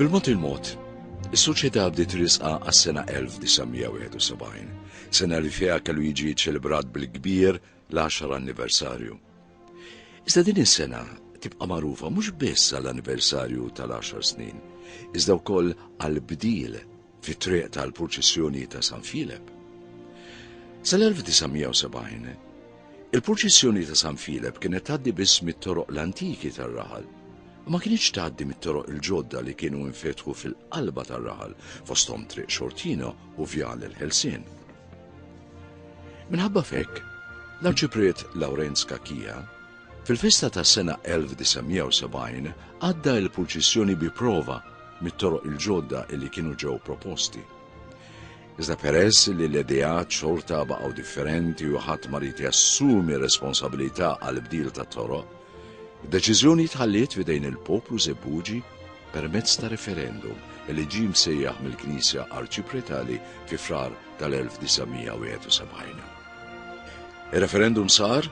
Bil-mod il-mod, is-soċjetà bdiet risqa għas-sena 1971, sena li fiha kellu jiġi ċelebrat bil-kbir l-10 anniversarju. Iżda din is-sena tibqa' magħrufa mhux biss għall-anniversarju tal-10 snin, iżda wkoll għall-bdil fit-triq tal-purċissjoni ta' San Filep. Sal-1970, il-purċissjoni ta' San Filep kienet tgħaddi biss mit-toroq l-antiki tar-raħal u ma kienx tgħaddi mit-toroq il-ġodda li kienu infetħu fil-qalba tar-raħal fosthom Triq Xortino u Vjal il-Ħelsien. Minħabba fekk, l-Arċipriet Lawrenz Kakkija Fil-festa tas-sena 1970 għadda il-purċissjoni bi prova mit-toroq il-ġodda li kienu ġew proposti. Iżda peress li l-ideat xorta baqgħu differenti u ħadd ma rid jassumi responsabilità għal bdil ta' toroq, deċiżjoni tħalliet f'idejn il-poplu Żebbuġi permezz ta' referendum li ġie msejjaħ mill-Knisja Arċipretali fi Frar tal-1971. Ir-referendum sar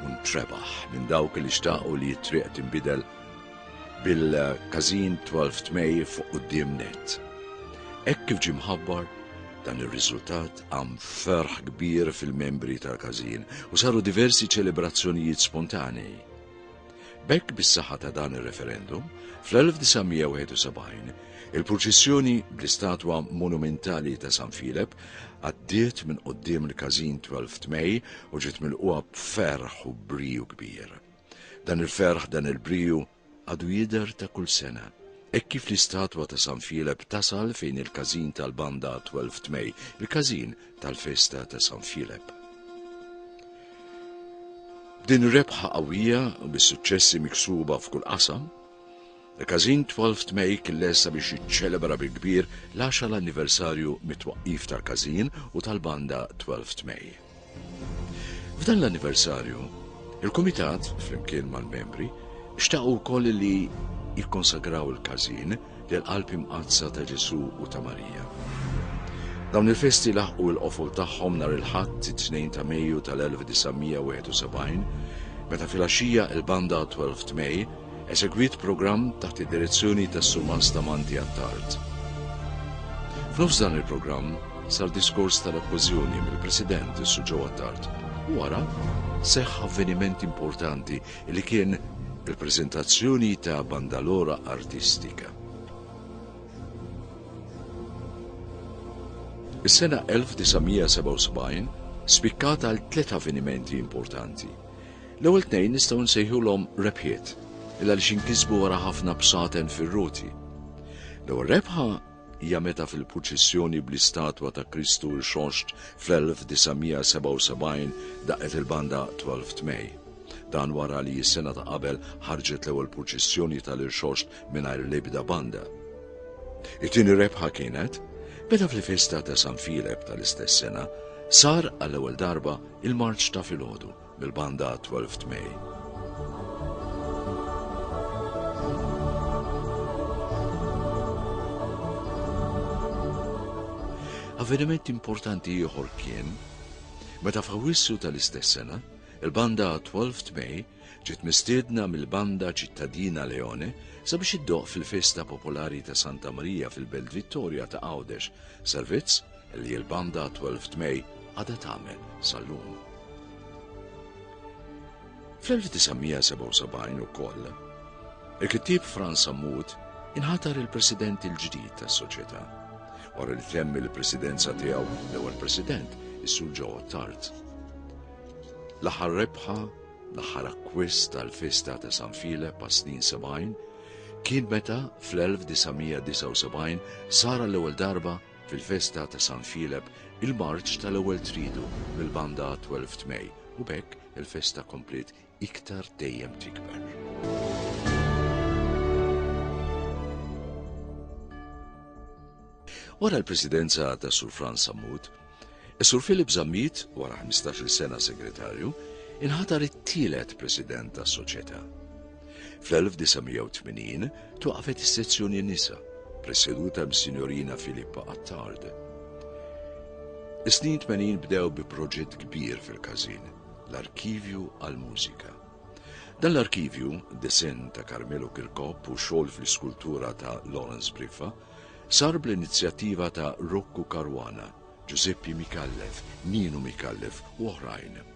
u ntrebaħ minn dawk li xtaqu li t-triq tinbidel bil-każin 12 May fuq quddiem net. Hekk kif ġie mħabbar, dan ir-riżultat għam ferħ kbir fil-membri tal-każin u saru diversi ċelebrazzjonijiet spontanei. B'hekk bis-saħħa ta' dan ir-referendum, fl-1971 il-purċissjoni bl-istatwa monumentali ta' San Filep għaddiet minn qudiem il-każin 12 May u ġiet milquha b'ferħ u briju kbir. Dan il-ferħ dan il-briju għadu jidher ta' kull sena. Hekk kif l-istatwa ta' San Filep tasal fejn il-każin tal-banda 12 May, il-każin tal-festa ta' San Filep. Din ir-rebħa qawwija u bis-suċċessi miksuba f'kull qasam, il-Każin 12 Tmej kien lesta biex jiċċelebra bil-kbir l-10 anniversarju mit-twaqqif tal-Każin u tal-banda 12 Tmej. F'dan l-anniversarju, il-Kumitat, flimkien mal-membri, xtaqu wkoll li jikkonsagraw il-Każin lill-Qalb Imqaddsa ta' Ġesù u ta' Marija. Dawn il-festi laħqu l-qofol tagħhom nhar il-Ħadd, it-Tnejn ta' Mejju tal-1971, meta filgħaxija l-Banda Twelfth May esegwiet programm taħt id-direzzjoni tas-Surmast Amanti Attard. F'nofs dan il-programm sar diskors tal-okkożjoni mill-President is-Sur Joe Attard u wara seħħ avveniment importanti li kien il-preżentazzjoni ta' bandalora artistika. Is-sena 1977 spikkat għal tliet avvenimenti importanti. L-ewwel tnejn nistgħu nsejħulhom rebħiet, illa li xinkisbu wara ħafna bsaten fir-ruti. L-ewwel rebħa hija meta fil-purċissjoni bl-istatwa ta' Kristu rxoxt fl-1977 daqqet il-banda 12th May. Dan wara li s-sena ta' qabel ħarġet l-ewwel purċissjoni tal-irxoxt mingħajr l-ebda banda. It-tieni rebħa kienet meta fil-festa ta' San Filep tal-istess sena sar għall-ewwel darba il-marċ ta' filgħodu mill-banda 12 May. Avveniment importanti ieħor kien meta f'Awissu tal-istess sena, il-banda 12 May ġiet mistiedna mill-banda ċittadina Leone sabiex iddoq fil-festa popolari ta' Santa Marija fil-Belt Vittoria ta' Għawdex, servizz li l-banda 12 May għadha tagħmel sal-lum. Fl-1977 ukoll, il-kittieb Franz Ammut inħatar il-president il-ġdid tas-soċjetà. Wara li temm il-presidenza tiegħu l-ewwel president is-Sur Ġo Tart. L-aħħar rebħa, l-aħħar akkwist tal-festa ta' San File pa' snin 70 kien meta fl-1979 sara l-ewwel darba Fil-festa ta' San Filep, il-marċ tal-ewwel triedu mill-banda għat-Twelfth May u b'hekk il-festa kompliet iktar dejjem tikber. Wara l-presidenza ta' Sur Franz Sammut, Sur Philip Zammit, wara 15 sena segretarju, inħatar it-tielet president tas soċjetà. Fl-1980 twaqfet is-sezzjoni nisa, preseduta mis-Sinjorina Filippa Attard. Is-snin 80 bdew bi proġett kbir fil-każin, l-Arkivju għall-Mużika. Dan l-arkivju, disen ta' Carmelo Kirkop u xogħol fl-iskultura ta' Lawrence Briffa, sar bl-inizjattiva ta' Rocco Caruana, Giuseppe Mikallef, Nino Mikallef u oħrajn.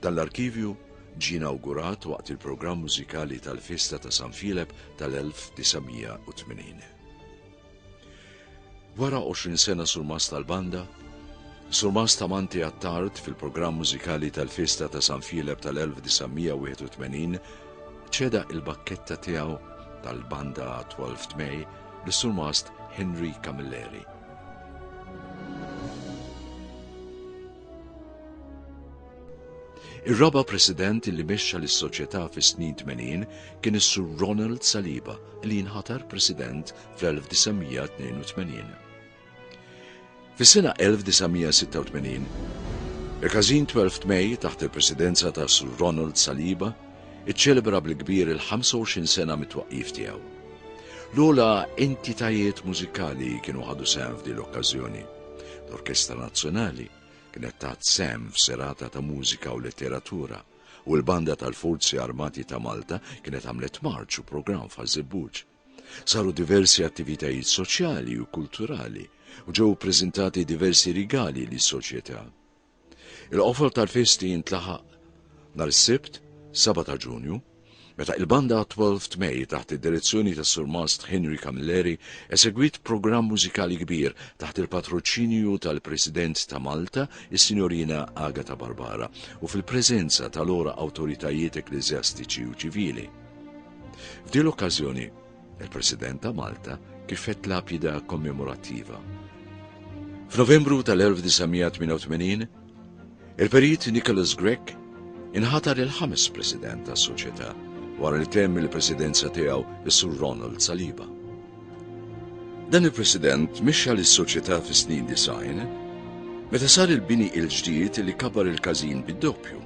Dan l-arkivju ġie inawgurat waqt il-programm mużikali tal-Festa ta' San Filep tal-1980. Wara 20 sena surmas tal-banda, surmas ta' Manti Attard fil-programm mużikali tal-Festa ta' San Filep tal-1981 ċeda il-bakketta tiegħu tal-banda 12 May lis-surmast Henry Camilleri. Ir-raba' President li mexxa lis-Soċjetà fis-snin tmenin kien is-Sur Ronald Saliba li jinħatar President fl-1982. Fis-sena 1986, il-Każin 12 May taħt il-Presidenza ta' Sur Ronald Saliba iċċelebra bil-kbir il-25 sena mit-twaqqif tiegħu. L-ogħla entitajiet mużikali kienu ħadu sehem f'din l-okkażjoni. L-Orkestra Nazzjonali kienet tat sehem f'serata ta' mużika u letteratura u l-Banda tal-Forzi Armati ta' Malta kienet għamlet marċ u programm f'Ħaż-Żebbuġ. Saru diversi attivitajiet soċjali u kulturali u ġew ippreżentati diversi rigali lis-soċjetà. Il-qofol tal-festi jintlaħaq nhar is-Sibt, 7 ta' Ġunju, meta il-banda 12 May taħt id-direzzjoni tas-Surmast Henry Camilleri esegwit programm mużikali kbir taħt il-patroċinju tal-President ta' Malta, is-Sinjorina Agata Barbara, u fil-preżenza tal-ora awtoritajiet ekklesjastiċi u ċivili. F'din l-okkażjoni, Il-President ta' Malta kifet lapida kommemorattiva. F'Novembru tal-1988, il-Perit Nicholas Grech inħatar il-ħames President tas-Soċjetà wara li temm il-Presidenza tiegħu is-Sur Ronald Saliba. Dan il-President mixxa lis-Soċjetà fis-snin design meta sar il-bini il-ġdid li kabar il-każin bid-doppju.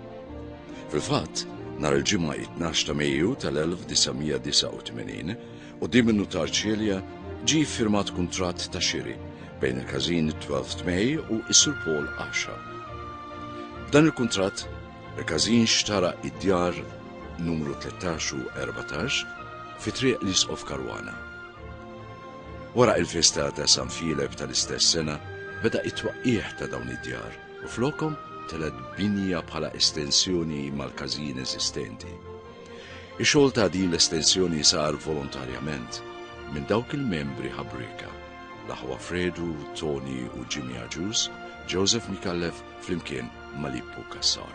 Fil-fatt, nhar il-Ġimgħa 12 ta' Mejju tal-1989, quddiem in-nutar Cilia, ġie ffirmat kuntratt ta' xiri bejn il-każin 12th May u s-Sur Paul Asha. B'dan il-kuntratt, il-każin xtara d-djar numru 13 u 14 fi Triq l-Isqof Caruana. Wara il-festa ta' San Filep tal-istess sena beda t-twaqqigħ ta' dawn id-djar. u flokhom telgħet binja bħala estensjoni mal-każin eżistenti. Ix-xogħol ta' din l-estensjoni sar volontarjament minn dawk il-membri ħabrieka, l-aħwa Fredu, Toni u Jimmy Agius, Joseph Mikallef flimkien ma' Lippu Cassar.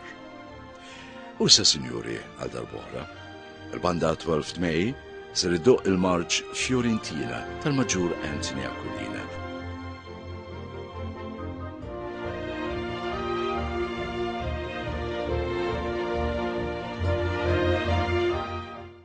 U issa sinjuri għal darb'oħra, Il-Banda 12th May ser iddoqq il-marċ Fiorentina tal-Maġġur Anthony Aquilina.